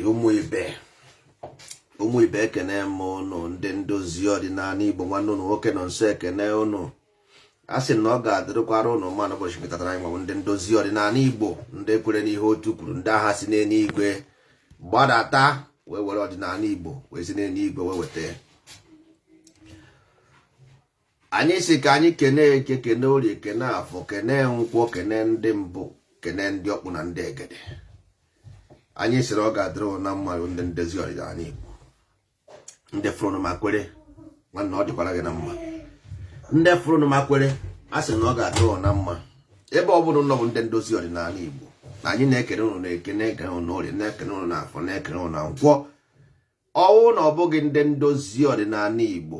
ụmụ ibe ụmụ ibe ekene m ụnụ ndị ndozi ọdịnanị igbo nwanne ụnụ nwoke Nọnsọ ekene ụnụ a sị na ọ ga-adịrịkwara ụnụ mma n'ụbọchị nke taata a anyị manwụ ndị ndozi ọdịnanị igbo ndị kwere n'ihe otu kwuru ndị agha si n'enuigwe gbadata wee were ọdịnanị igbo wee si n'enuigwe wee weta anyị sị ka anyị kene eke kene orie kene afọ kene nkwọ kene ndị mbụ kene ndị ọkpụ na ndị egede anyị sịrị ọ ga-adịrị ụnụ mma ndị ndozi ọdịnanị Igbo ndị fụrụ ma kwere nwanne ọ dịkwara gị na mma ndị fụrụ ma kwere a sị na ọ ga-adịrị ụnụ na mma ebe ọ bụna ụnụ bụ ndị ndozi ọdịnanị Igbo na anyị na-ekene ụnụ n'eke na-ekene ụnụ orie na-ekene ụnụ n'afọ na-ekene ụnụ na nkwọ ọ wụ na ọ bụghị ndị ndozi ọdịnanị Igbo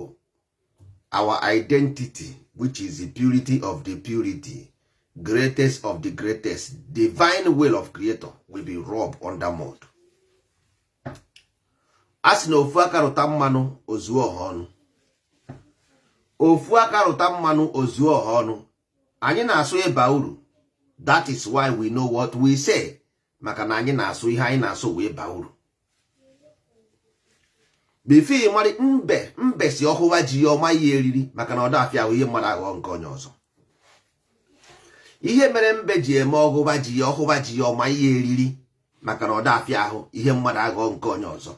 our identity which is the purity of the purity greatest of the greatest divine will of creator will be rubbed on the mud a sị na ofu aka rụta mmanụ o zuo ọha ọnụ ofu aka rụta mmanụ o zuo ọha ọnụ anyị na-asụ ịba uru that is why we know what we say maka na anyị na-asụ ihe anyị na-asụ wee baa uru before ị mara mbe mbe sị ọhụwa ji ya ọma ihe eriri maka na ọ dafịa ahụ ihe mmadụ aghọọ nke onye ọzọ ihe mere mbe ji eme ọhụwa ji ya ọhụwa ji ya ọma ihe eriri maka na ọ dafịa ahụ ihe mmadụ aghọọ nke onye ọzọ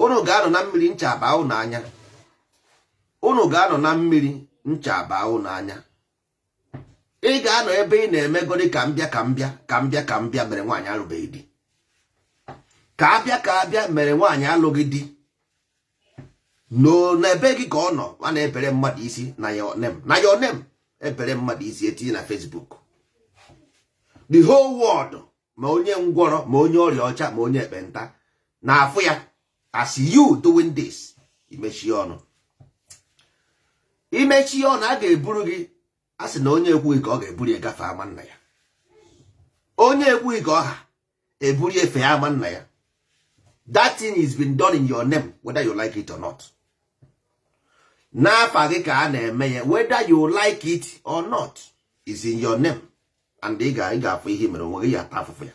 unu ga-anọ na mmiri ncha abaa unu anya unu ga-anọ na mmiri ncha abaa unu anya ị ga-anọ ebe ị na-emegodi ka mbịa ka mbịa ka mbịa ka mbịa mere nwaanyị alụbeghị di ka abịa ka abịa mere nwaanyị alụghị di n'ebe gị ka ọ nọ a na-ebere mmadụ isi na ya onem na ya onem ebere mmadụ isi etinye na Facebook the whole world ma onye ngwọrọ ma onye ọrịa ọcha ma onye ekpenta na-afụ ya as you doing this imechi ọnụ imechi ọnụ a ga-eburu gị a sị na onye ekwughị ka ọ ha eburu ya gafee ama nna ya onye ekwughị ka ọ ha eburu ya fee ama nna ya that thing is being done in your name whether you like it or not n'afa gị ka a na-eme ya whether you like it or not is in your name and ị ga-afụ ihe mere onwe gị ị ya-ata afụfụ ya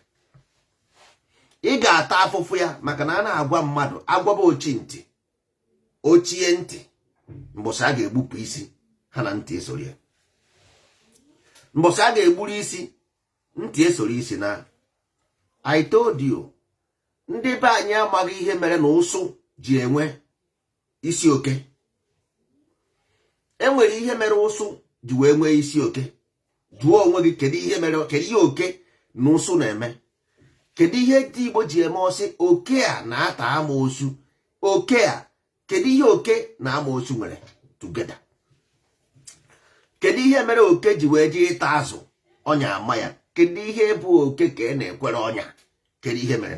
ị ga-ata afụfụ ya maka na a na-agwa mmadụ a gwaba ochi ntị o chie ntị mbọsị a ga-egbupụ isi ha na ntị esoro ya mbọsị a ga-egburu isi ntị esoro isi naa I told you ndị be anyị amaghị ihe mere na ụsụ ji enwe isi oke enwere ihe mere ụsụ ji wee nwee isi oke jụọ onwe gị kedu ihe oke na ụsụ na-eme kedu ihe ndị Igbo ji eme ọ sị oke a na-ata amoosu oke a kedu ihe oke na amoosu nwere together kedu ihe mere oke ji wee jee ịta azụ ọnya ama ya kedu ihe bụ oke ka a na-ekwere ọnya kedu ihe mere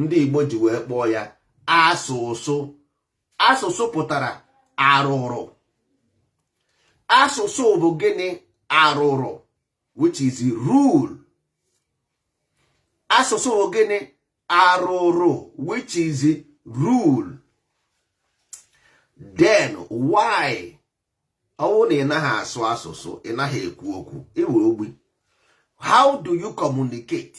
ndị Igbo ji wee kpọọ ya asụsụ asụsụ pụtara arụrụ asụsụ bụ gịnị arụrụ which is rule asụsụ bụ gịnị arụrụ which is rule then why ọ wụ na ị naghị asụ asụsụ ị naghị ekwu okwu ị wụrụ ogbi how do you communicate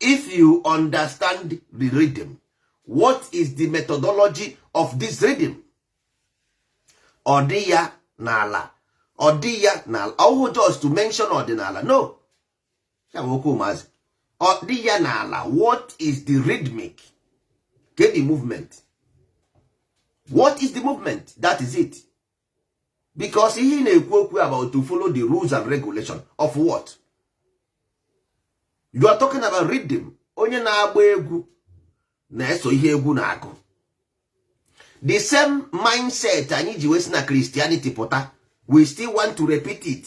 if you understand the rhythm what is the methodology of this rhythm ọ dị ya n'ala ọ dị ya n'ala ọ wụghị just to mention ọdịnala no ya bụ okwu ụmụazị ọ dị ya n'ala what is the rhythmic get the movement what is the movement that is it because ihe ị na-ekwu okwu about to follow the rules and regulation of what you are talking about rhythm onye na-agba egwu na-eso ihe egwu na-akụ the same mindset anyị ji wee si na Christianity pụta we still want to repeat it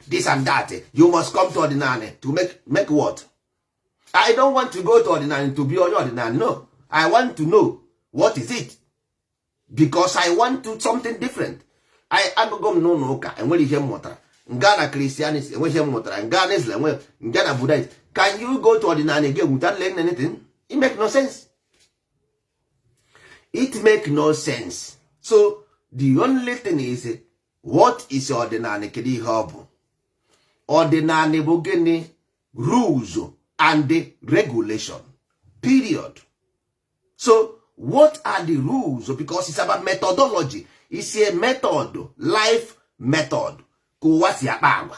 this and that you must come to ọdịnala to make what i don't want to go to ọdịnala to be onye ọdịnala no i want to know what is it because i want to something different agago m n'ụka enwere ihe m mụtara m gaa na Christianity enweghị ihe m mụtara m gaa na islam enweghị m gaa na buddhist can you go to ọdịnala again without learning anything it make no sense it make no sense so the only thing is what is ọdịnala kedu ihe ọ bụ ọdịnala bụ gịnị rules and regulation period so what are the rules because it's about methodology is a method life method ka ụwa si akpa agwa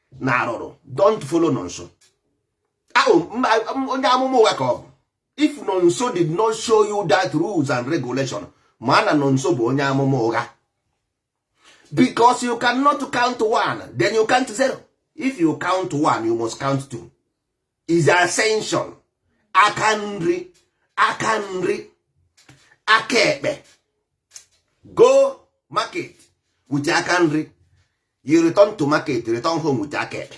na arụrụ don't follow nonso ahụ onye amụma ụgha ka ọ bụ if nonso did not show you that rules and regulation ma na nonso bụ onye amụma ụgha because you cannot count one then you count zero if you count one you must count two is ascension aka nri aka nri aka ekpe go market with aka nri you return to market return home with aka ekpe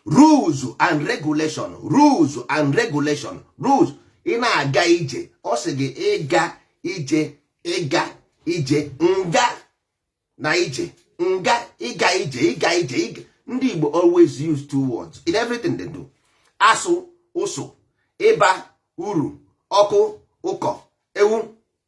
rules and regulation rules and regulation rules ị na-aga ije ọ sị gị ịga ije ịga ije nga na ije nga ịga ije ịga ije ịga ndị Igbo always use two words in everything they do asụ ụsụ ịba uru ọkụ ụkọ ewu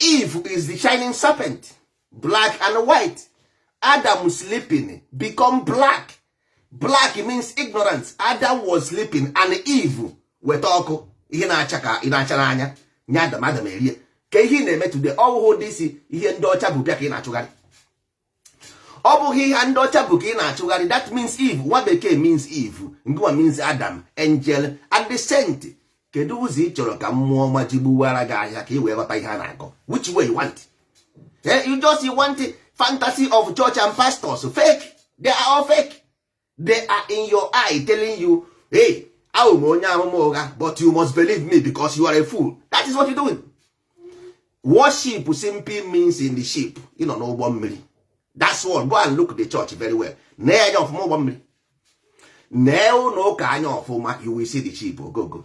Eve is the shining serpent black and white Adam sleeping become black black means ignorance Adam was sleeping and Eve weta ọkụ ihe na-acha n'anya nye Adam Adam erie ka ihe na-eme today ọ wụhụ this ihe ndị ọcha bu bịa ka ị na-achụgharị ọ bụghị ihe ndị ọcha bu ka ị na-achụgharị that means Eve nwa bekee means Eve Ngwa means Adam angel and the saint kedu ụzọ ị chọrọ ka mmụọ ọma ji gbuwara gị ahịa ka ị wee ghọta ihe a na-akọ which way you want eh, you just want fantasy of church and pastors fake they are all fake they are in your eye telling you hey a wụ m onye amụma ụgha but you must believe me because you are a fool that is what you doing worship simply means in the ship ịnọ n'ụgbọ mmiri that's all go and look the church very well nee anya ọfụma ụgbọ mmiri nee ụlọ ụka anya ọfụma you will see the ship ogogo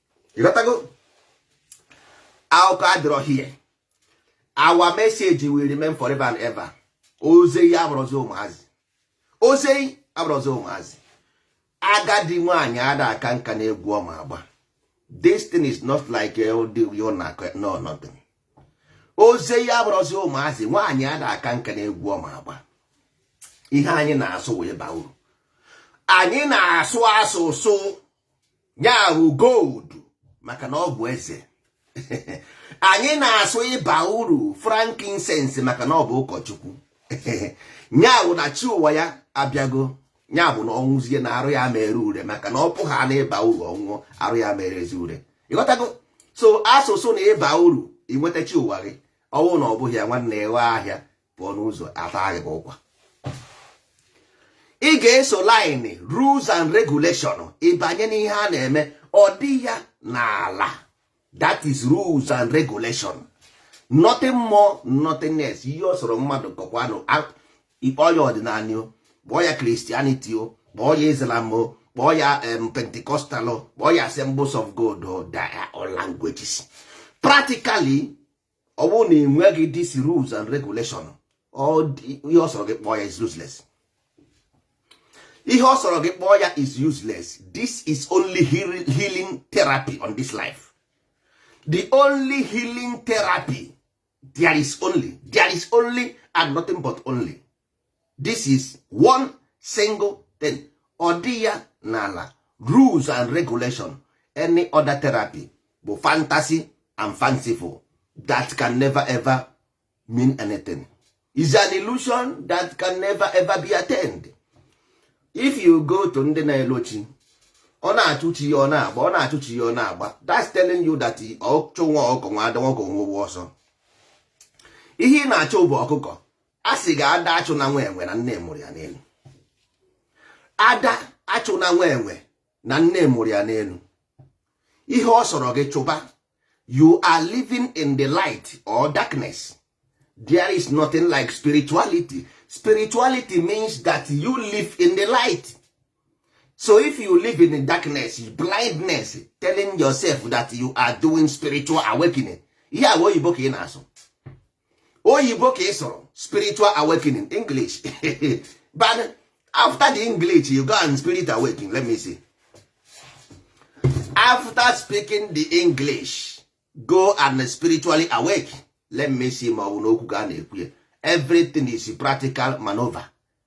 ịghọtago akụkọ adịrọ here our message will remain forever and ever ozi anyị abụrọzi ụmụazị ozi anyị abụrọzi ụmụazị agadi nwaanyị ada aka nka n'egwu ọ ma agba this thing is not like no nothing ozi anyị abụrọzi ụmụazị nwaanyị ada aka nka n'egwu ọ ma agba ihe anyị na-asụ wụ ịba uru anyị na-asụ asụsụ ya wụ gold maka na ọ bụ eze anyị na-asụ ịba uru frankincense maka na ọ bụ ụkọchukwu ya bụ na chi ụwa ya abịago ya bụ na ọ nwụzie na arụ ya ama-ere ure maka na ọ pụ ha na ịba uru ọ nwụọ arụ ya ama-erezi ure ịghọtago so asụsụ na ịba uru inweta chi ụwa gị ọ wụ na ọ bụghị ya nwanne ịghọ ahịa pụọ n'ụzọ ata gị ụkwa ị ga-eso line rules and regulation ịbanye n'ihe a na-eme ọ dị ya n'ala that is rules and regulation nothing more nothing less ihe ọ sọrọ mmadụ kọkwanụ ị kpọọ ya ọdịnala o kpọọ ya Christianity o kpọọ ya islam o kpọọ ya pentecostal o kpọọ ya assemblies of God o they are all languages practically ọ bụrụ na ị nweghị this rules and regulation ihe ọ sọrọ gị kpọọ ya is useless ihe ọ sọrọ gị kpọọ ya is useless this is only healing therapy on this life the only healing therapy there is only there is only and nothing but only this is one single thing ọ dị ya n'ala rules and regulation any other therapy bụ fantasy and fanciful that can never ever mean anything is an illusion that can never ever be attained if you go to ndị na-elochi ọ na-achụ chi ya ọ na-agba ọ na-achụ chi ya ọ na-agba that's telling you that ọchụ nwa ọkụkọ nwe ada nwa ọkụkọ nwe ọsọ ihe ị na-achụ bụ ọkụkọ a sị ga ada achụ na nwa enwe na nne mụrụ ya n'elu ada achụ na nwa enwe na nne mụrụ ya n'elu ihe ọ sọrọ gị chụba you are living in the light or darkness there is nothing like spirituality spirituality means that you live in the light so if you live in the darkness blindness telling yourself that you are doing spiritual awakening ihe a wụ oyibo ka ị na-asụ oyibo ka ị sụrụ spiritual awakening english but after the english you go and spirit awake let me see after speaking the english go and spiritually awake let me see ma ọ bụ n'okwu ka a na-ekwu ya everything is practical maneuver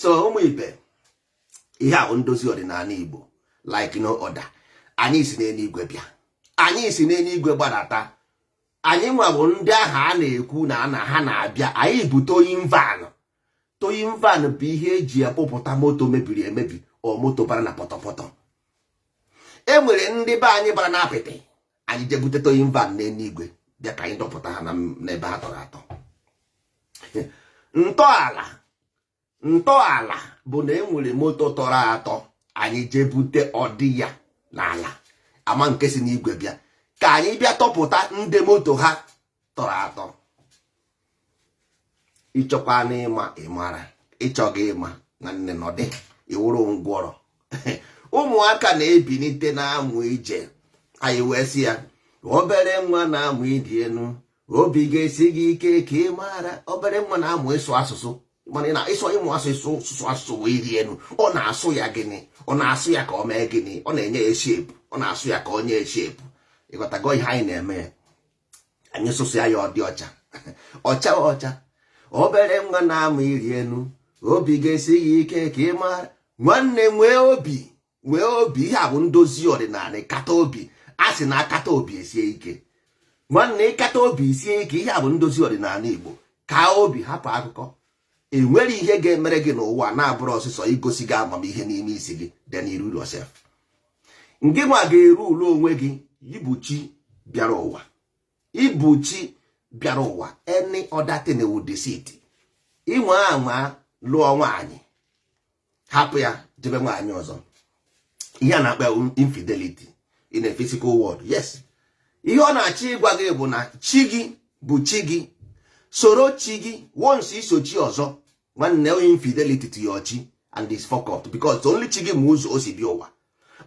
so ụmụ ibe ihe a wụ ndozi ọdịnala Igbo like no other anyị si n'eluigwe bịa anyị si n'eluigwe gbadata anyị nwa bụ ndị ahụ a na-ekwu na ana ha na-abịa anyị bụ towing van towing van bụ ihe eji akpụpụta moto mebiri emebi or moto bara na pọtọpọtọ e nwere ndị be anyị bara na apịtị anyị jee bute towing van n'eluigwe bịa ka anyị dọpụta ha n'ebe ha tọrọ atọ ntọala ntọala bụ na enwere moto tọrọ atọ anyị jee bute ọdị ya n'ala ama nke si n'igwe bịa ka anyị bịa tọpụta ndị moto ha tọrọ atọ ị chọkwanụ ịma ị mara ị chọghị ịma nwanne nọdị ị wụrụ ngwọrọ ụmụaka na-ebinite na-amụ ije anyị wee sị ya obere nwa na-amụ ịrị enu obi ga-esi gị ike ka ị maara obere nwa na-amụ ịsụ asụsụ mana na ịsụ ịmụ asụsụ sụsụ asụsụ wee ịrị enu ọ na-asụ ya gịnị ọ na-asụ ya ka ọ mee gịnị ọ na-enye ya shape ọ na-asụ ya ka ọ nye ya shape ị ghọtago ihe anyị na-eme ya anyị sụsụ ya ọ dị ọcha ọcha ọcha obere nwa na-amụ ịrị enu obi ga-esi ya ike ka ị mara nwanne nwee obi nwee obi ihe a bụ ndozi ọdịnanị kata obi a sị na akata obi esie ike nwanne ịkata obi isie ike ihe a bụ ndozi ọdịnanị Igbo ka obi hapụ akụkọ enwerọ ihe ga-emere gị n'ụwa na-abụrọ sọsọ igosi gị amamihe n'ime isi gị then you rule yourself ngị nwa ga-erule onwe gị ị bụ chi bịara ụwa ị bụ chi bịara ụwa any other thing wụ deceit inwe anwa lụọ nwaanyị hapụ ya jebe nwaanyị ọzọ ihe a na-akpọ ya infidelity in a physical world yes ihe ọ na-achọ ịgwa gị bụ na chi gị bụ chi gị soro chi gị once i so chi ọzọ nwanne infidelity to your chi and is fuck up because only chi gị ma ụzọ o si bịa ụwa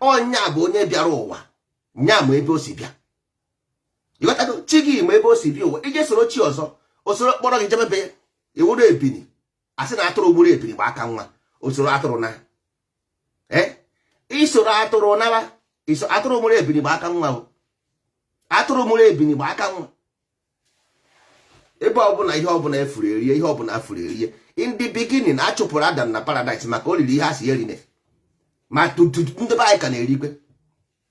ọ nya bụ onye bịara ụwa nya ma ebe o si bịa ịghọtago chi gị ma ebe o si bịa ụwa i je soro chi ọzọ o soro kpọrọ gị jebebe ị wụrụ ebini a sị na atụrụ mụrụ ebini gba aka nwa o soro atụrụ na eh? i soro atụrụ naba atụrụ mụrụ ebini gba aka nwa atụrụ mụrụ ebini gba aka nwa ebe ọbụna ihe ọbụna a fụrụ erie ihe ọbụna a fụrụ erie in the beginning a chụpụrụ adam na paradise maka o riri ihe a sị ya erine ma ndị be anyị ka na-erikwe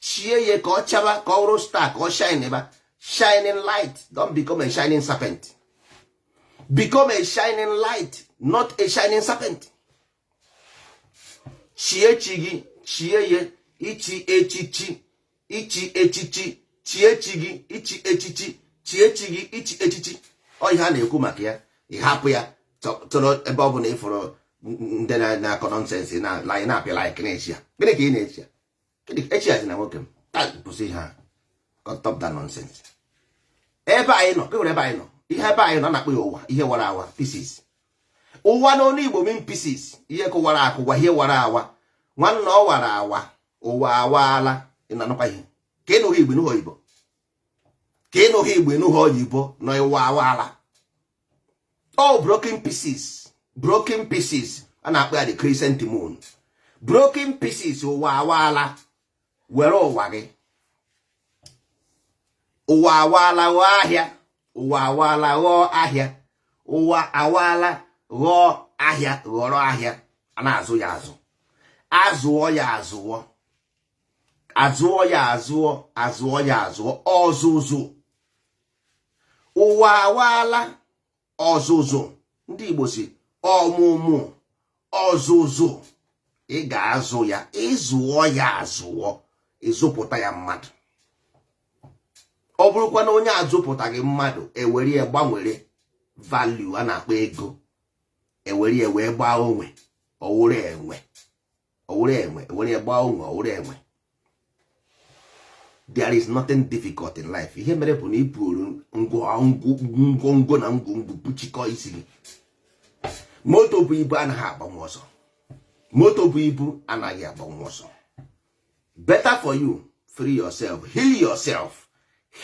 chie ya ka ọ chaba ka ọ bụrụ star ka ọ shine ba shining light don't become a shining serpent become a shining light not a shining serpent chie chi gị chie ya ichi echichi ichi echichi chie chi gị ichi echichi chie chi gị ichi echichi ọ ihe a na-ekwu maka ya ị hapụ ya tụrụ ebe ọ bụla ị fụrụ ndị na-akọ nonsense online na-apịa like na share gịnị ka ị na-eshare esharezina nwoke m kwụsị ihe a stop that nonsense ebe anyị nọ e nwere ebe anyị nọ ihe ebe anyị nọ a na-akpọ ya ụwa ihe wara awa pieces ụwa n'onu igbo mean pieces ihe kụwara akụwa ihe wara awa nwanne ọ wara awa ụwa awaala ị na-anụkwa ihe ka ị nụghị igbo ị nụghị oyibo ka ị nụghị igbo ị nụghị oyibo na ụwa awaala all broken pieces broken pieces a na-akpọ ya the crescent moon broken pieces ụwa awaala were ụwa gị ụwa awaala ghọọ ahịa ụwa awaala ghọọ ahịa ụwa awaala ghọọ ahịa ghọrọ ahịa a na-azụ ya azụ azụọ ya azụọ azụọ ya azụọ azụọ ya azụọ ọzụzụ ụwa awaala ọzụzụ ndị Igbo sị ọmụmụ ọzụzụ ị ga-azụ ya ịzụọ ya azụọ ịzụpụta ya mmadụ ọ bụrụkwa na onye azụpụtaghị mmadụ ewere ya gbanwere value a na-akpọ ego ewere ya wee gbaa onwe ọwụrụ enwe ọwụrụ enwe ewere ya gbaa onwe ọwụrụ enwe there is nothing difficult in life ihe mere bụ na i buru ngwongwo na ngwongwo kpuchikọ isi gị moto bu ibu anaghị agbanwu ọsọ moto bu ibu anaghị agbanwu ọsọ better for you free yourself heal yourself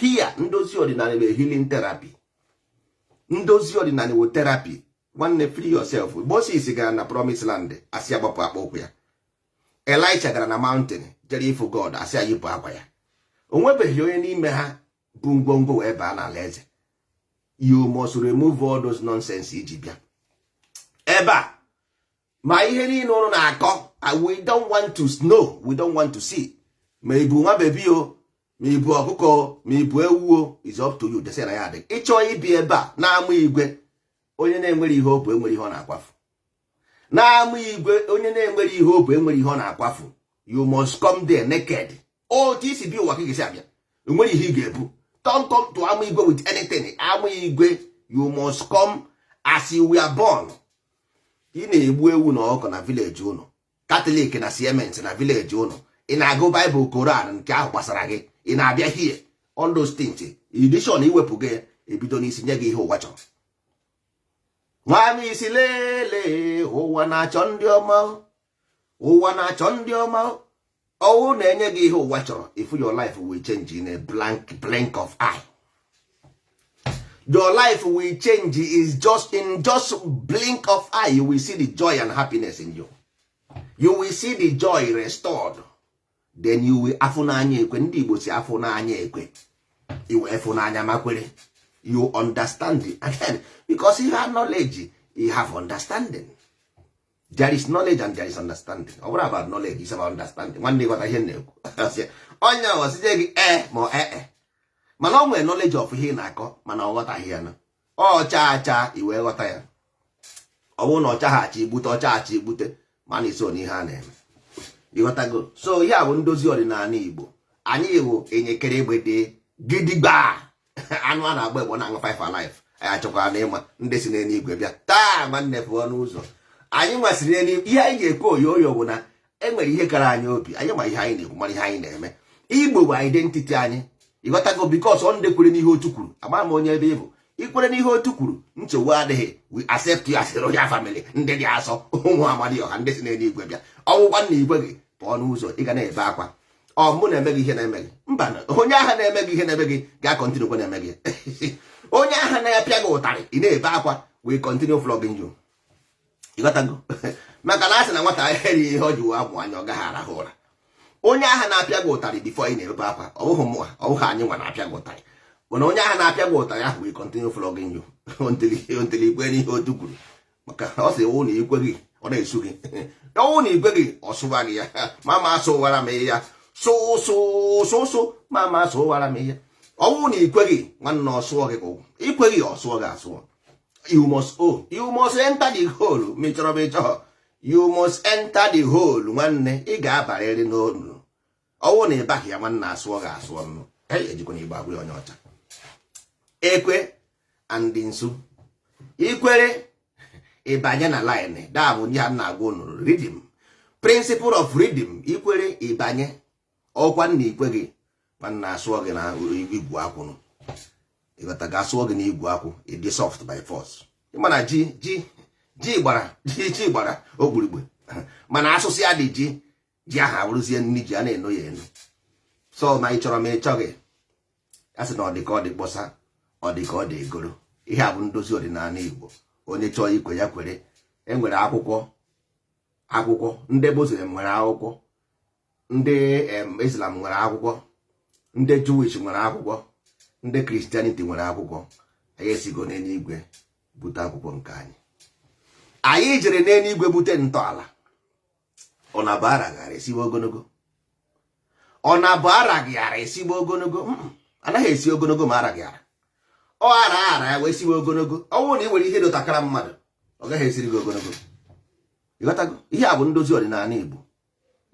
here ndozi ọdịnanị wụ healing therapy ndozi ọdịnanị wụ therapy nwanne free yourself Moses gara na promise land asị ya gbapụ akpa ụkwụ ya Elisha gara na mountain jere ịfụ God asị ya yipụ akwa ya o nwebeghị onye n'ime ha bu ngwongwo wee baa n'ala eze you must remove all those nonsense iji bịa ebe a ma ihe niile ụnụ na-akọ we don't want to know we don't want to see ma ibu nwa bebi o ma ibu ọkụkọ o ma ibu ewu o is up to you desi na ya adịghị ịchọ ịbịa ebe a n'ama igwe onye na-enwerọ ihe o bu enwerọ ihe ọ na-akwafu n'ama igwe onye na-enwerọ ihe o bu enwerọ ihe ọ na-akwafu you must come there naked otu i si bịa ụwa ka ị ga-esi abịa o nwerọ ihe ị ga-ebu don't come to ama igwe with anything ama igwe you must come as you were born ị na-egbu ewu na ọkụkọ na village ụnụ Catholic na CMS na village ụnụ ị na-agụ Bible Koran nke ahụ gbasara gị ị na-abịa here all those things edishon iwepụ gị ebido n'isi nye gị ihe ụwa chọrọ nwaanyị isi lele ụwa na-achọ ndị ọma ụwa na-achọ ndị ọma ọwụ na enye gị ihe ụwa chọrọ if your life will change in a blink of eye your life will change is just in just blink of eye you will see the joy and happiness in you you will see the joy restored then you will afụ n'anya ekwe ndị Igbo sị afụ n'anya ekwe ị wee fụ n'anya ma kwere you understand again because you have knowledge you have understanding there is knowledge and there is understanding ọ bụrọ about knowledge is about understanding nwanne ịghọta ihe na-ekwu onye ahụ site gị e ma ọ ee mana o nwere knowledge of ihe ị na-akọ mana ọ ghọtaghị ya na ọcha acha ị wee ghọta ya ọ bụrụ na ọ chaghị acha i gbute ọ chaa acha i gbute mana iso n'ihe a na-eme ịghọtago so ihe a bụ ndozi ọdịnanị Igbo anyị wụ enyekere egbede gidigba anụ a na-agba egbe na-aṅụ five alive anyị achọkwara na ịma ndị si n'eluigwe bịa taa nwanne pụọ n'ụzọ anyị nwasịrị n'eluigwe ihe anyị ga-ekwe oyo oyo bụ na e nwere ihe kara anyị obi anyị ma ihe anyị na-ekwu mara ihe anyị na-eme igbo bụ identity anyị ịghọtago because ọ ndị kwere n'ihe otu kwuru ama m onye ebe ị bụ ikwere n'ihe otu kwuru nchegbu adịghị we accept you as a royal family ndị dị asọ ụmụ amadịọha ndị si n'eluigwe bịa ọ wụkwa na ikweghị pụọ n'ụzọ ị ga na-ebe akwa ọ mụ na-eme gị ihe na-eme gị mba onye ahụ na-eme gị ihe na-eme gị ga-akọntinu kwa na-eme gị onye ahụ na-apịa gị ụtarị ị na-ebe akwa will continue flogging you ịghọtago maka na a sị na nwata erighị ihe o ji wee amụ anya ọ gaghị arahụ ụra onye ahụ na-apịa gị ụtarị before ị na-ebe akwa ọ bụghị mụwa ọ bụghị anyị nwa na-apịa gị ụtarị mana onye ahụ na-apịa gị ụtarị ahụ will continue flogging you until ikwe n'ihe otu kwuru maka ọ sị wụ na ikweghị ọ na-asụ gị ọ wụ na ikweghị ọ sụwa gị ya mama sụwara m ya sụsụsụsụ mama sụwara m ya ọ wụ na ikweghị nwanne ọ sụọ gị ka akwụ ikweghị ọ sụọ gị asụọ you must o oh, you must enter the hole ma ị chọrọ ma ị chọọ you must enter the hole nwanne ị ga-abarịrị n'ọnụ ọ wụ na ịbaghị ya nwanna asụọ gị asụọ nụ ejikwa na igbo agwa onye ọcha ekwe and nsu ikwere ịbanye na line that bụ ihe a na-agwa unu rhythm principle of rhythm ikwere ịbanye ọ wụkwa na ikweghị nwanna asụọ gị na igwu akwụ nụ ịghọtago asụọ gị na igwu akwụ ịdị soft by force ị ma na ji ji ji gbara ji ji gbara ogbirigbe mana asụsịa ya dị ji ji ahụ abụrụzie nri ji a na-eno ya eno so ma ị chọrọ ma ị chọghị a sị na ọ dị ka ọ dị kpọsa ọ dị ka ọ dị egoro ihe a bụ ndozi ọdịnala Igbo onye chọọ ikwe ya kwere enwere akwụkwọ akwụkwọ ndị Muslim nwere akwụkwọ ndị Islam nwere akwụkwọ ndị Jewish nwere akwụkwọ ndị Christianity nwere akwụkwọ anyị esigo n'eluigwe bute akwụkwọ nke anyị anyị jere n'eluigwe bute ntọala ọ na-abụ araghara esiwe ogologo ọ na-abụ araghị ara esiwe ogologo anaghị esi ogologo ma araghị ara ọ ara ara ya wee siwe ogologo ọ bụrụ na ị nwere ihe dotakara mmadụ ọ gaghị esiri gị ogologo ịghọtago ihe a bụ ndozi ọdịnala Igbo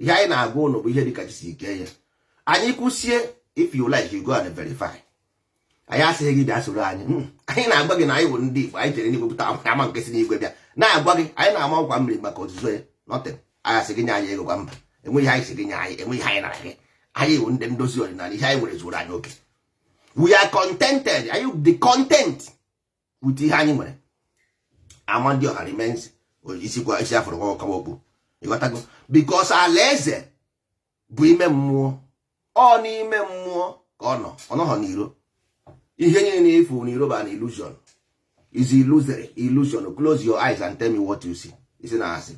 ihe anyị na-agwa ụnụ bụ ihe dịka chi si kee ya anyị kwusie if you like you go and verify anyị asịghị gị bịa soro anyị hmm. anyị na-agwa gị na anyị bụ ndị Igbo anyị jere n'igwe pụta ama nke si n'igwe bịa na-agwa gị anyị na-ama ọkwa mmiri maka ozuzo ya nothing anyị asị gị nye anyị ego kwa mba enweghị anyị sị gị nye anyị enweghị anyị nara gị anyị bụ ndị ndozi ọdịnala ihe anyị nwere zuru anyị oke we are contented anyị dị content with ihe anyị nwere amadịọha remains isi afụrụ kwawa okpu ịghọtago because alaeze bụ ime mmụọ ọ n'ime mmụọ ka ọ nọ ọ nọghọ n'iro ihe niile ị na-afụ n'iro bụ an illusion is illusory illusion close your eyes and tell me what you see isi na asị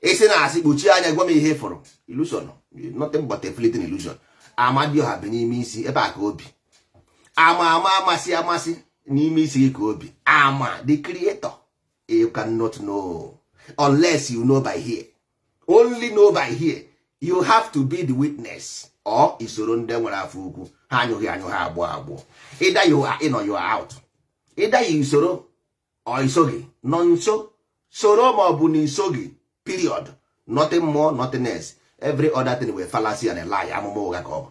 isi na asị kpuchie anya gwa m ihe ị fụrụ illusion nothing but a fleeting illusion amadioha bi n'ime isi ebe a ka o bi ama ama amasị amasị n'ime isi gị ka o bi ama the creator you cannot know unless you know by here only know by here you have to be the witness or i soro ndị nwere afọ ukwu ha anyụghị anyụ ha agbụọ agbọ either you are in or you are out either i soro or i soghị nọ nso soro ma ọ bụ na i soghị period nothing more nothing else every other thing wụ fallacy and a lie amụma ụgha ka ọ bụ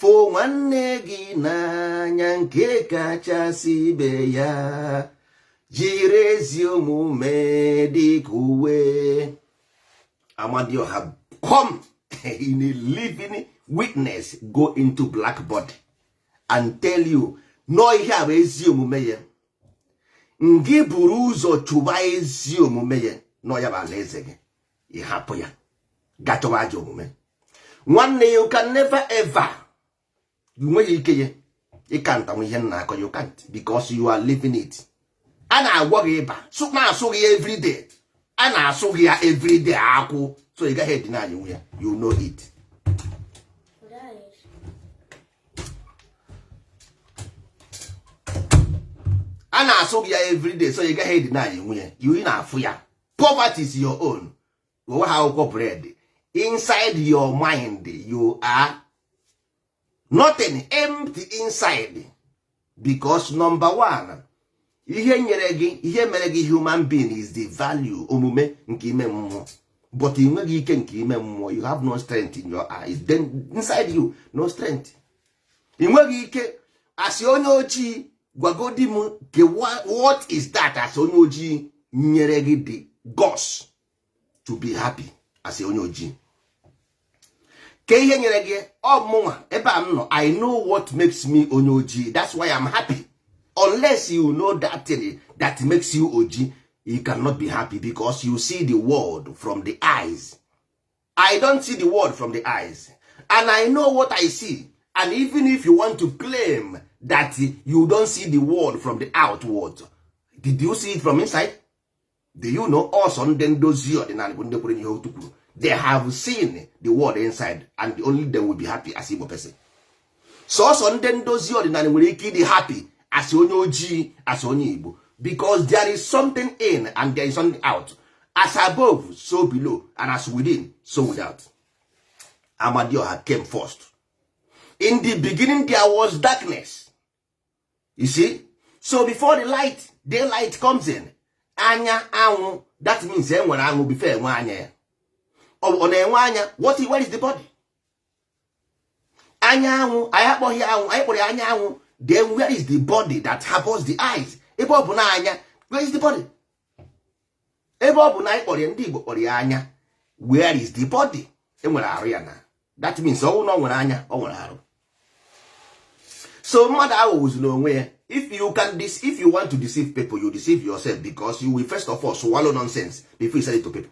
fụ nwanne gị n'anya nke kachasị ibe ya jiri ezi omume dị ka uwe amadioha come in a living witness go into black body and tell you n'ọ ihe a bụ ezi omume ya ngị buru ụzọ chụba ezi omume ya n'ọ ya bụ alaeze gị ị hapụ ya gachọwa ajọ omume nwanne you can never ever ị nweghị ike ya ị counter nwu ihe m na-akọ you can't because you are living it a na-agwọ gị ịba na-asụ gị everyday a na-asụ gị ya everyday akwụ so ị gaghị edeny nwu ya you know it a na-asụ gị ya everyday so ị gaghị edeny nwu ya you ị na-afụ ya poverty is your own onwe ha akwụkwọ bread inside your mind you are nothing empty inside because number one ihe nyere gị ihe mere gị human being is the value omume nke ime mmụọ but ị nweghị ike nke ime mmụọ you have no strength in your eyes then inside you no strength ị nweghị ike as onye ojii gwagodi m ke what is that as onye ojii nyere gị the guts to be happy as onye ojii ke ihe nyere gị ọ mụnwa ebe a m nọ i know what makes me onye ojii that's why i'm happy unless you know that thing that makes you ojii you cannot be happy because you see the world from the eyes i don't see the world from the eyes and i know what i see and even if you want to claim that you don't see the world from the outward did you see it from inside do you know also ndị ndozi ọdịnala bụ ndị kwere n'ihe otu kwuru they have seen the world inside and only they will be happy as igbo person sọsọ ndị ndozi ọdịnala nwere ike ịdị happy as onye ojii as onye igbo because there is something in and there is something out as above so below and as within so without amadioha came first in the beginning there was darkness you see so before the light daylight comes in anya anwụ that means enwere anwụ before enwe anya ya ọ na-enwe anya what where is the body anya anwụ anyị akpọghị anwụ anyị kpọrọ ya anya anwụ then where is the body that harbors the eyes ebe ọ bụ na anya where is the body ebe ọ bụ na anyị kpọrọ ya ndị Igbo kpọrọ ya anya where is the body enwere arụ ya na that means ọ wụ na ọ nwere anya ọ nwere arụ so mmadụ aghọgbuzina onwe ya if you can dis if you want to deceive people you deceive yourself because you will first of all swallow nonsense before you sell it to people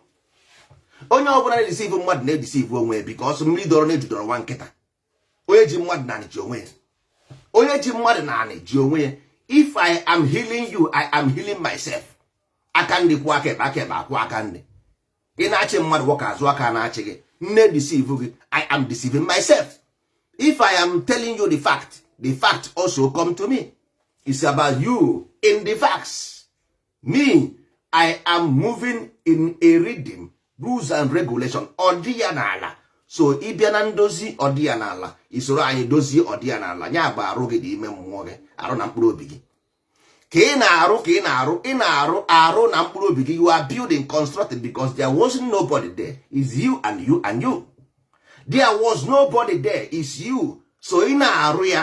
onye ọ bụla na-edeceive mmadụ na-edeceive onwe ya because mmiri dọrọ n'eju dọọrọ nwa nkịta onye ji mmadụ n'anị ji onwe ya onye ji mmadụ n'anị ji onwe ya if i am healing you i am healing myself aka nri kwọọ aka ekpe aka ekpe akwọọ aka nri ị na-achị mmadụ nwoke azụ aka na-achị gị m na-edeceive gị i am deceiving myself if i am telling you the fact the fact also come to me it's about you in the facts me i am moving in a rhythm rules and regulation ọdị ya n'ala so ị bịa na ndozi ọdị ya n'ala i soro anyị dozie ọdị ya n'ala ya bụ arụ gị dị ime mmụọ gị arụ na mkpụrụ obi gị ka ị na-arụ ị na-arụ arụ na mkpụrụ obi gị you are building constructed because there was nobody there is you and you and you there was nobody there is you so ị na-arụ ya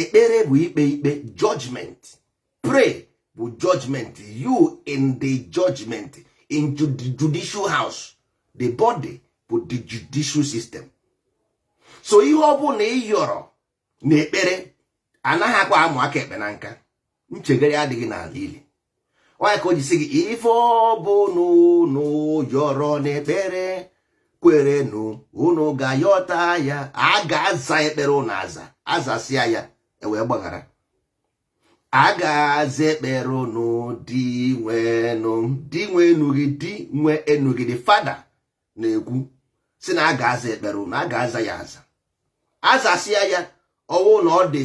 ekpere bụ ikpe ikpe judgment pray bụ judgment you in the judgment in the judicial house the body bụ the judicial system so ihe ọ bụna ị yọrọ n'ekpere anaghịkwa amụ aka ekpe na nka nchegharị adịghị n'ala ili ọ ya ka o ji sị gị ife ọ bụna ụnụ yọrọ n'ekpere kwerenụ unu ga-ayọta ya a ga-aza ekpere ụnụ aza azasịa ya ewee gbaghara a ga-aza ekpere ụnụ di nwe enu di nwe enu gị di nwe enu gị dị fada na-ekwu sị na a ga-aza ekpere ụnụ a ga-aza ya aza azasịa ya ụwa ụnụ ọ dị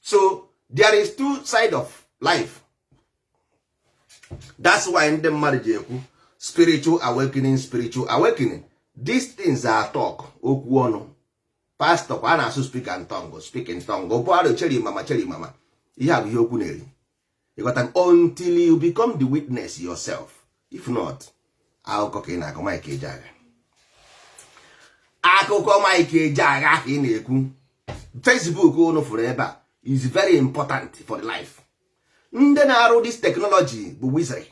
so there is two side of life that's why ndị mmadụ ji ekwu spiritual awakening spiritual awakening these things are talk okwu ọnụ pastọ kwa a na-asụ speak in tongue speak in tongue bụ arịo cheri mama cheri mama ihe a bụ ihe okwu na-eri ịghọtago until you become the witness yourself if not akụkọ ka ị na-akọ Mike Ejeagha akụkọ Mike Ejeagha ka ị na-ekwu Facebook unu fụrụ ebe a is very important for the life ndị na-arụ this technology bụ wizard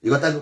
ịghọtago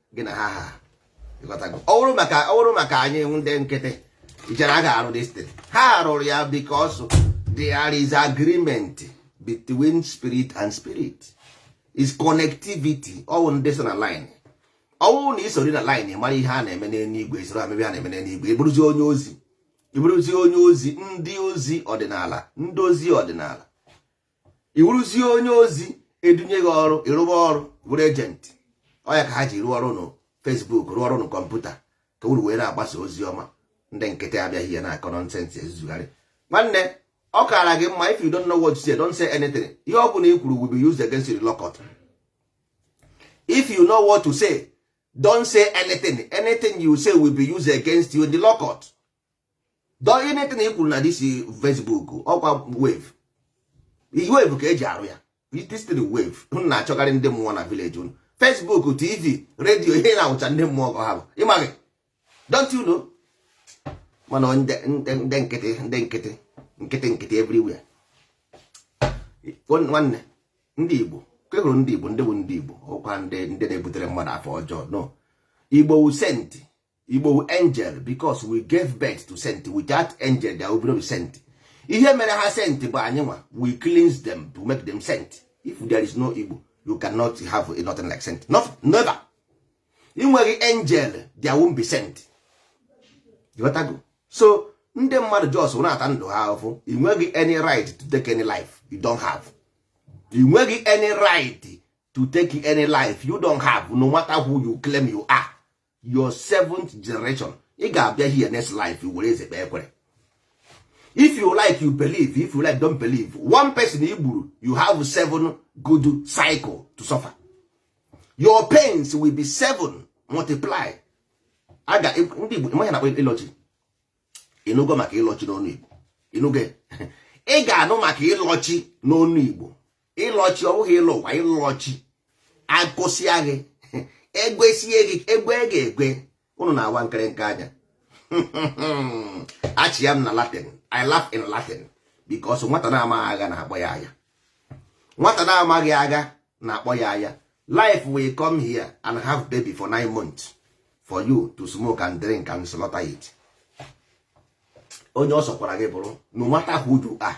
gị na ha ha ọ bụrụ maka ọ bụrụ maka anyị ndị nkịtị i chere a ga-arụ this thing ha rụrụ ya because there is agreement between spirit and spirit is connectivity ọ wụ ndị so na line ọ wụrụ na i soro na line mara ihe a na-eme n'eluigwe i soro mebe ihe a na-eme n'eluigwe ị bụrụzi onye ozi ị bụrụzi onye ozi ndị ozi ọdịnala ndị ozi ọdịnala ị wụrụzie onye ozi edunye gị ọrụ ị rụba ọrụ bụrụ agent ọ ya ka ha ji rụọ ọrụ na Facebook rụọ ọrụ na computer ka uru wee na-agbasa ozi ọma ndị nkịtị abịaghị ya na-akọ nonsense ezuzugharị nwanne ọ kaara gị mma if you don't know what to say don't say anything ihe ọ bụla i kwuru will be used against you in law court if you know what to say don't say anything anything you say will be used against you in the law court dọọ anything i kwuru na this Facebook ọkwa wave wave ka eji arụ ya this thing wave unu na-achọgharị ndị mmụọ na village unu Facebook TV radio ihe na-awụcha ndị mmụọ ka ha bụ ị maghị don't you know mana ndị nkịtị ndị nkịtị nkịtị nkịtị everywhere nwanne ndị Igbo ke hụrụ ndị Igbo ndị bụ ndị Igbo ọkwa ndị ndị na-ebutere mmadụ afọ ọjọọ no Igbo wụ saint Igbo wụ angel because we gave birth to saint without angel there will be saint ihe mere ha saint bụ anyị nwa we cleanse them to make them saint if there is no Igbo you cannot have a nothing like saint no, never ị nweghị angel there won't be saint you got to go so ndị mmadụ just na-ata ndụ ha ahụfụ ị nweghị any right to take any life you don't have ị nweghị any right to take any life you don't have no matter who you claim you are your seventh generation ị ga-abịa here next life were eze kpee ekwere if you like you believe if you like don't believe one person i gburu you have seven good cycle to suffer your pains will be seven multiply aga ndị Igbo ị ma ihe a na-akpọ ịlọchi ị nụgo maka ịlọchi n'ọnụ Igbo ị nụgo ị ga-anụ maka ịlọchi n'ọnụ Igbo ịlọchi ọ bụghị ịlọ ụwa ịlọchi akụsịa gị egwesie gị egwe gị egwe ụnụ na-awa nkịrịnka anya achịa m na latin i laugh in latin because nwata na-amaghị agha na-akpọ ya aya nwata na-amaghị agha na-akpọ ya aya life will come here and have baby for nine months for you to smoke and drink and slaughter it onye ọ sọkwara gị bụrụ no matter who you are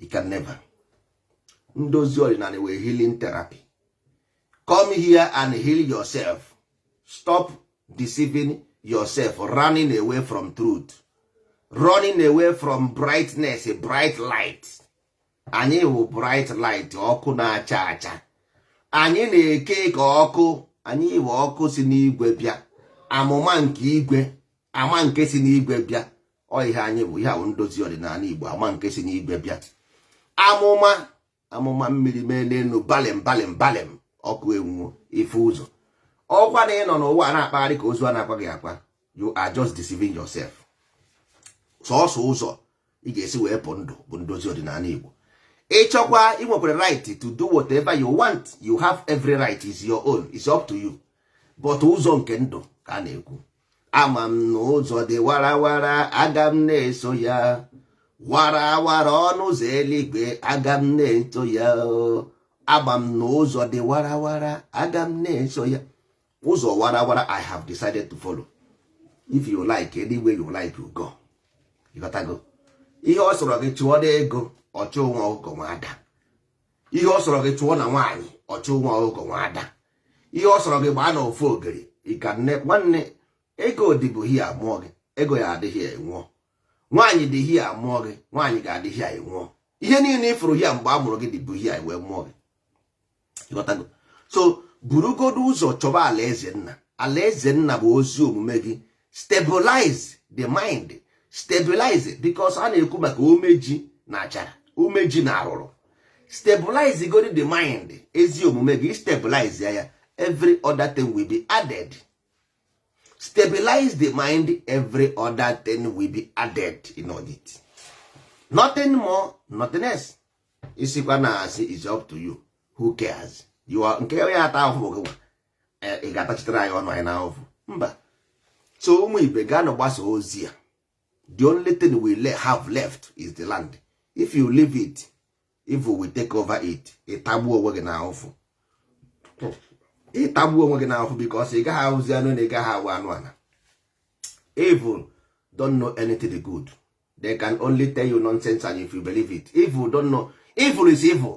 you can never ndozi ọdịnala nwere healing therapy come here and heal yourself stop deceiving yourself running away from truth running away from brightness bright light anyị wụ bright light ọkụ na-acha acha anyị na-eke ka ọkụ anyị wụ ọkụ si n'igwe bịa amụma nke igwe ama nke si n'igwe bịa ọ ihe anyị bụ ihe ahụ ndozi ọdịnala Igbo ama nke si n'igwe bịa amụma amụma mmiri mee n'elu balem balem balem ọkụ enwuo ife ụzọ ọkwa na ị nọ n'ụwa na-akpagharị ka ozu a na-akwa gị akwa you are just deceiving yourself sọsọ ụzọ ị ga-esi wee pụ ndụ bụ ndozi ọdịnala Igbo ị chọkwa ị nwekwara right to do whatever you want you have every right is your own is up to you but ụzọ nke ndụ ka a na-ekwu ama m na ụzọ dị warawara aga m na-eso ya warawara ọnụ ụzọ eluigwe aga m na-eso ya ama m na ụzọ dị warawara aga m na-eso ya ụzọ warawara i have decided to follow if you like any way you like you go ị ghọtago ihe ọ sọrọ gị chụọ n'ego ọchụ nwa ọkụkọ nwe ada ihe ọ sọrọ gị chụọ na nwaanyị ọchụ nwa ọkụkọ nwe ada ihe ọ sọrọ gị gbaa na ofu ogiri ikanne nwanne ego dịbụ here a mụọ gị ego ya-adị here ị nwụọ nwaanyị dị here a mụọ gị nwaanyị ga-adị here ị nwụọ ihe niile ị fụrụ here mgbe a mụrụ gị dịbụ here wee mụọ gị so burugodu ụzọ chọba alaeze nna alaeze nna bụ ezi omume gị stabilize the mind stabilize because a na-ekwu maka umeji na achara umeji na arụrụ stabilize godi the mind ezi omume gị stabilize ya ya every other thing will be added stabilize the mind every other thing will be added in all it nothing more nothing less ị sịkwa na asị is up to you who cares you are nke onye ya-ata ahụhụ gị nwa eh, ị ga-atachitere anyị ọnụ anyị n'ahụfụ mba so ụmụ ibe gaanụ gbasaa ozi a the only thing we have left is the land if you leave it evil will take over it ị tagbuo onwe gị n'ahụfụ ị tagbuo onwe gị n'ahụfụ because ị gaghị awụzi anụ enu ị gaghị awụ anụ ana evil don't know anything good they can only tell you nonsense and if you believe it evil don't know evil is evil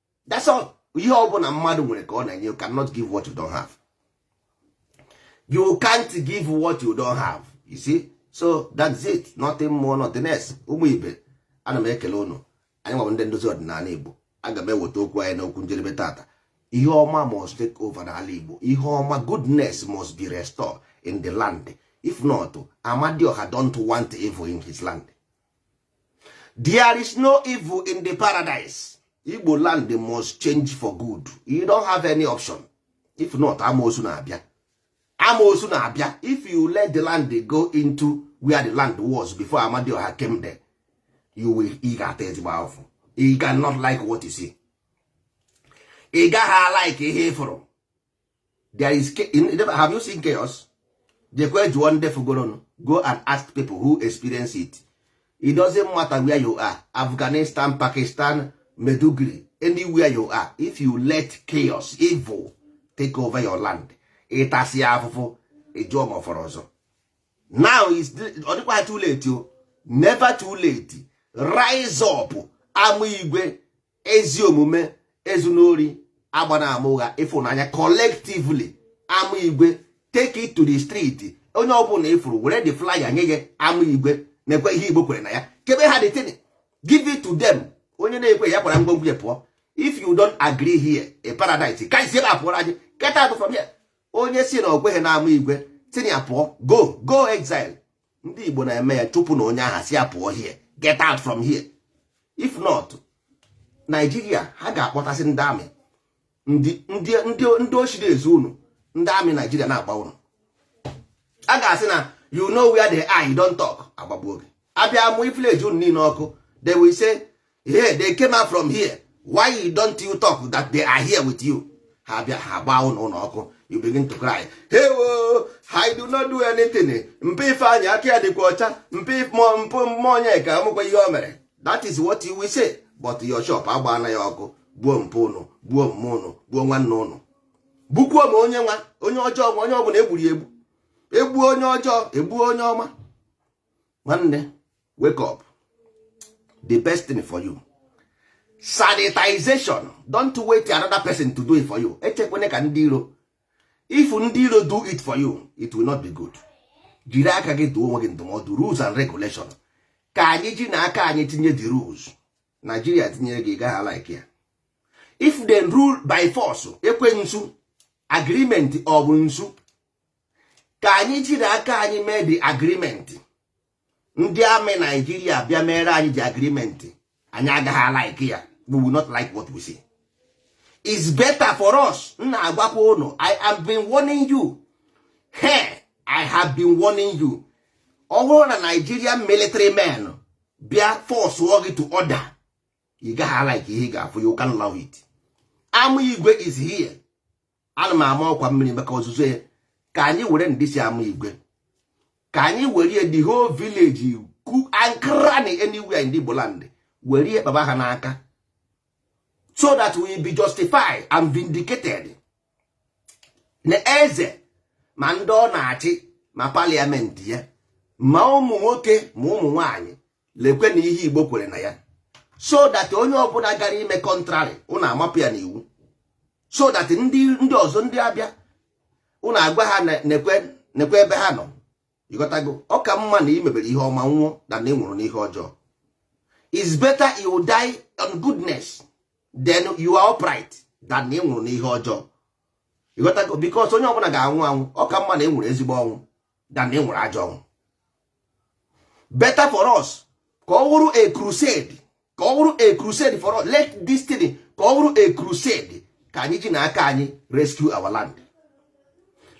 that's all ihe ọ bụla mmadụ nwere ka ọ na-enye you cannot give what you don't have you can't give what you don't have you see so that's it nothing more nothing less ụmụ ibe ana m ekele ụnụ anyị nwa bụ ndị ndozi ọdịnala Igbo aga m eweta okwu anyị n'okwu njedebe tata ihe ọma must take over n'ala Igbo ihe ọma goodness must be restored in the land if not Amadịọha don't want evil in his land there is no evil in the paradise igbo land must change for good you don't have any option if not amoosu na-abịa amoosu na-abịa if you let the land go into where the land was before amadioha came there you will ị ga-ata ezigbo afụfụ you cannot like what you see ị gaha like ihe ị fụrụ there is have you seen chaos jekwe jụọ ndị fụgoronụ go and ask people who experience it it doesn't matter where you are afghanistan pakistan maiduguri anywhere you are if you let chaos evil take over your land ị tasịa afụfụ ị jụọ ma ọ fọrọ ọzọ now ọ dịkwa too late o never too late rise up ama igwe ezi omume ezuna ori agbana ama ụgha ịfụnanya collectively ama igwe take it to the street onye ọbụla ị fụrụ were the flyer nye ya ama igwe nekwe ihe igbo kwere na ya kebe ha the thing give it to them onye na-ekwe ya kwara ngwongwo ya pụọ if you don't agree here a paradise ka i si ebe a pụọrọ anyị get out from here onye sị na o kweghị na ama igwe sị ya pụọ go go exile ndị Igbo na-eme ya chụpụ na onye aha sị ya pụọ here get out from here if not Nigeria ha ga-akpọtasị ndị army ndị oshi na-ezu unu ndị army Nigeria na-agba unu a ga-asị na you know where they are you don't talk a gbagbuo gị a bịa mụ village unu niile ọkụ they will say hey they came out from here why don't you talk that they are here with you ha bịa ha gbaa ụlọ ụnụ ọkụ you begin to cry hey wo I do not do anything mpa ifeanyị aka ya dịkwa ọcha mpa mpụ mmụọ onye ka amụkwa ihe o mere that is what you will say but your shop agbaana ya ọkụ gbuo mpa ụnụ gbuo mma ụnụ gbuo nwanne ụnụ gbukwuo ma onye ọma onye ọjọọ ma onye ọbụla e gburu egbu e gbuo onye ọjọọ e gbuo onye ọma nwanne wake up the best thing for you sanitization don't wait another person to do it for you echekwene ka ndị iro if ndị iro do it for you it will not be good jiri aka gị dụọ onwe gị ndụmọdụ rules and regulation ka anyị ji na aka anyị tinye the rules Nigeria tinyere gị ị gaha like ya if they rule by force ekwensu agreement of nsu ka anyị jiri aka anyị mee the agreement ndị army nigeria bịa meere anyị the agreement anyị agaha alike ya we will not like what we see is better for us m na-agwakwa ụnụ i am been warning you he i have been warning you ọ bụrụ na nigerian military men bịa force gị to order ị gaha alike ihe ị ga-afụ you can't love it ama igwe is here ana m ama ọkwa mmiri maka ozuzo ya ka anyị were ndị si ama igwe ka anyị were ya the whole village nook and cranny anywhere in Igbo land were ya kpaba ha n'aka so that we be justified and vindicated na eze ma ndị ọ na-achị ma parliament ya ma ụmụ nwoke ma ụmụ nwanyị lekwe na ihe igbo kwere na ya so that onye ọbụla gara ime contrary ụna amapụ ya n'iwu so that ndị ndị ọzọ ndị abịa ụna agwa ha nekwe nekwe ebe ha nọ ịghọtago ọ ka mma na ị mebere ihe ọma nwụọ than na ị nwụrụ n'ihe ọjọọ is better you die on goodness then you are upright than na ị nwụrụ n'ihe ọjọọ ịghọtago because onye ọbụla ga-anwụ anwụ ọ ka mma na ị nwụrụ ezigbo ọnwụ than na ị nwụrụ ajọ ọnwụ better for us ka ọ wụrụ a crusade ka ọ wụrụ a crusade for us let this thing ka ọ wụrụ a crusade ka anyị ji na aka anyị rescue our land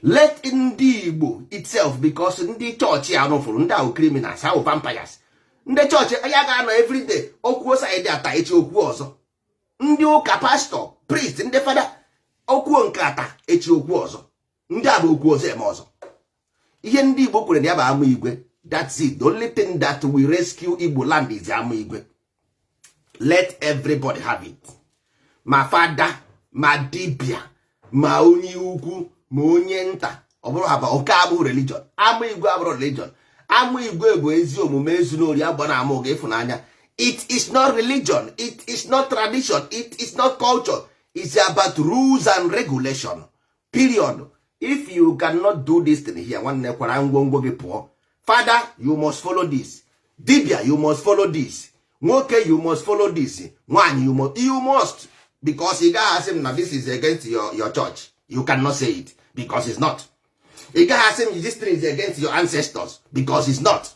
let ndị igbo itself because ndị chọọchị a ụnụ fụrụ ndị a wụ criminals ha wụ vampires ndị chọọchị ya ga-anọ everyday okwuo side a taa echi okwuo ọzọ ndị ụka pastor priest ndị fada okwuo nke a taa echi okwuo ọzọ ndị a bụ okwu ọzọ eme ọzọ ihe ndị igbo kwere na ya bụ ama igwe that's it the only thing that will rescue igbo land is ama igwe let everybody have it ma fada ma dibia ma onye ukwu ma onye nta ọ bụrụ haba oke abụ religion ama igwe abụrọ religion ama igwe bụ ezi omume ezuna ori agbana ama ụgha ịfụnanya it is not religion it is not tradition it is not culture it's about rules and regulation period if you cannot do this thing here nwanne kwara ngwongwo gị pụọ fada you must follow this dibia you must follow this nwoke you must follow this nwaanyị you must you must because ị gaghị asị m na this is against your, your church you cannot say it because it's not ị gaghị asị m this thing is against your ancestors because it's not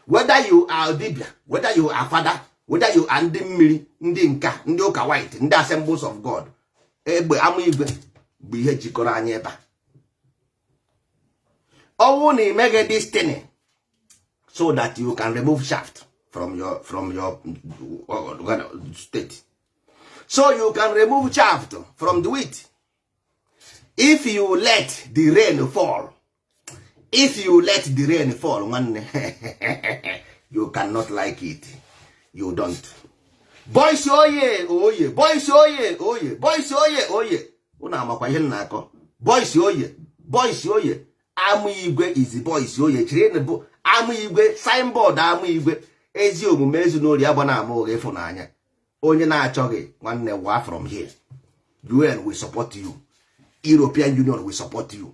whether you are dibia whether you are father whether you are ndị mmiri ndị nka ndị ụka white ndị assemblies of god egbe ama igwe bụ ihe jikọrọ anyị ebe a ọ wụ na i mege this thing so that you can remove shaft from your from your state so you can remove shaft from the wheat if you let the rain fall if you let the rain fall nwanne you cannot like it you don't boys oye oye boys oye oye boys oye oye unu amakwa ihe m na-akọ boys oye boys oye ama igwe is boys oye chiri bụ ama igwe signboard ama igwe ezi omume ezuna ori agbana ama ụgha ịfụnanya onye na-achọghị nwanne wa from here UN will support you European Union will support you